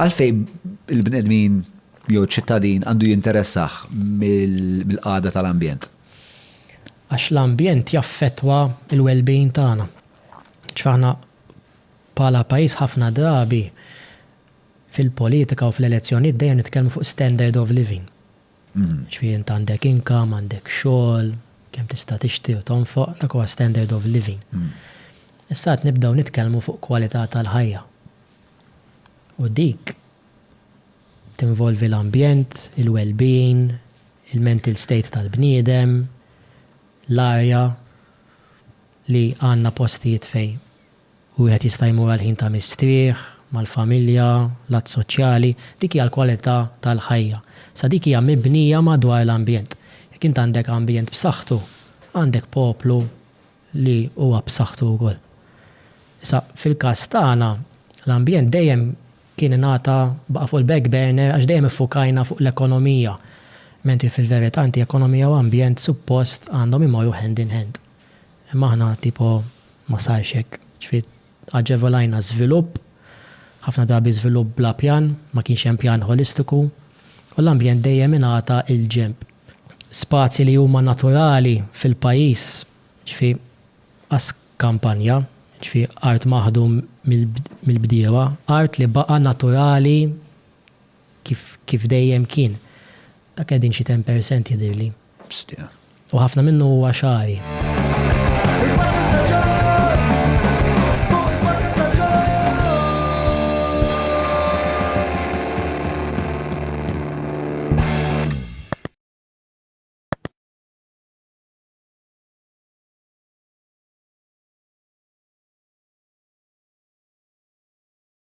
Għalfejn il-bnedmin jew ċittadin għandu jinteressah mill-qagħda tal-ambjent? Għax l-ambjent jaffettwa l-well-being tagħna. Ġifieri aħna bħala pajjiż ħafna drabi fil-politika u fl-elezzjonijiet dejjem nitkellmu fuq standard of living. Ġifieri int għandek income, għandek xogħol, kemm tista' tixtri u tonfoq, dak huwa standard of living. Issa qed nibdew nitkellmu fuq kwalità tal-ħajja. u dik tinvolvi l-ambjent, il-wellbeing, il-mental state tal-bniedem, l-arja, li għandna postijiet fejn wieħed jista' jmur għal ħin ta' mistrieħ, mal-familja, lat soċjali, dik hija l-kwalità tal-ħajja. Sa dik hija mibnija madwar l-ambjent. Jekk int għandek ambjent b'saħħtu, għandek poplu li huwa b'saħħtu wkoll. Issa, fil-każ tagħna, l-ambjent dejjem kien ingħata, baqa' fuq il-back burner għax dejjem iffukajna fuq l-ekonomija, mentri fil-verità inti ekonomija u ambjent suppost għandhom imorru hand in hand. Imma aħna tipo ma sarx hekk, ġifieri, Aġevolajna żvilupp, ħafna drabi żvilupp bla pjan, ma kienx hemm pjan ħolistiku, u l-ambjent dejjem ingħata 'l ġenb. Spazji li huma naturali fil-pajjiż, jiġifieri qas kampanja, jiġifieri art maħdum mill-bdiewa, art li baqa' naturali, Kif kif dejjem kien. Dak qegħdin xi ten percent jidhirli. Bstie. U ħafna minnu huwa xagħri.